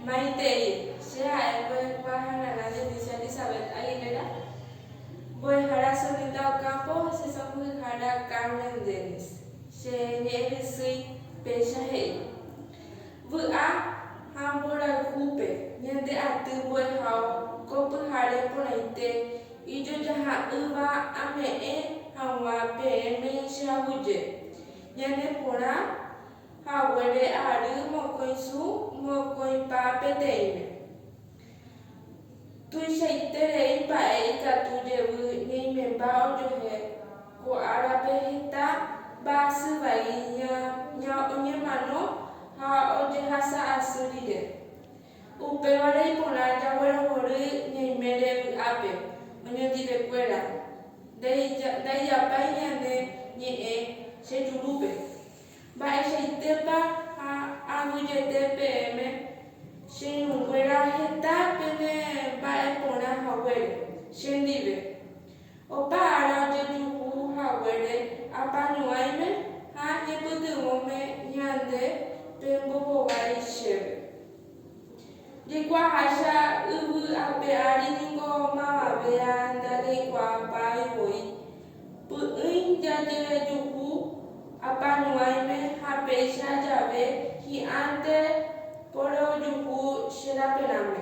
Maitei, che ha'e mbo'ekuaa ha nana Denisia Elizabeth Aguilera, mbo'ehára Solita Ocampo ha che sãmbyhyhára Carmen Dennis. Che ñe'ẽ rysýi péicha he'i, Vy'a ha mborayhúpe ñande aty mbo'ehao ko pyhare porãite ijojaha'ỹva ame'ẽ hag̃ua peẽme che aguyje ñane porã, Haguére ary mokõi su mokõipa peteĩme. Tuichaite rei mba'e ikatu jevy ñaimemba ojohe ko árape heta mba'asy vai ña oñemano ha ojehasa asy rire. Upévare iporã jaguerohory ñaimére vy'ápe oñondive kuéra, ndaijapái ñane ñe'ẽ che jurúpe. Mba'eichaitépa ha aguyete peẽme, che irũnguéra heta pene mba'e porã haguére chendive. Opa ára ojejuhu haguére apañuãime ha ñepytyvõme ñande pembohovái chéve. Jaikuaaháicha yvy ape ári ningo mavavéa ndajaikuaapáivoi, Py'ỹi jajejuhu apañuãime ha péicha jave hi'ãnte porojuhu che raperãme.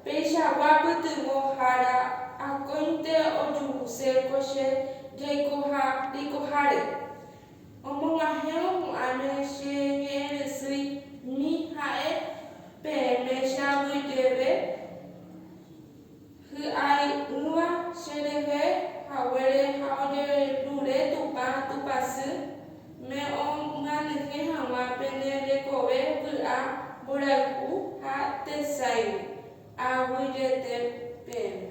Peichagua pytyvõ hára akóinte ojuhuse ko che jaikoha reikoháre. Omog̃uahẽvo hu'ãime che ñe'ẽrysýi mi ha'e peẽme che aguyjeve. Hy'ai'ỹva cherehe haguére ha ojerure Tupã tupãsy, me'õmyanyhẽ hag̃ua pene rekove vy'a mborayhu ha tesaígui. Aguyjete peẽme.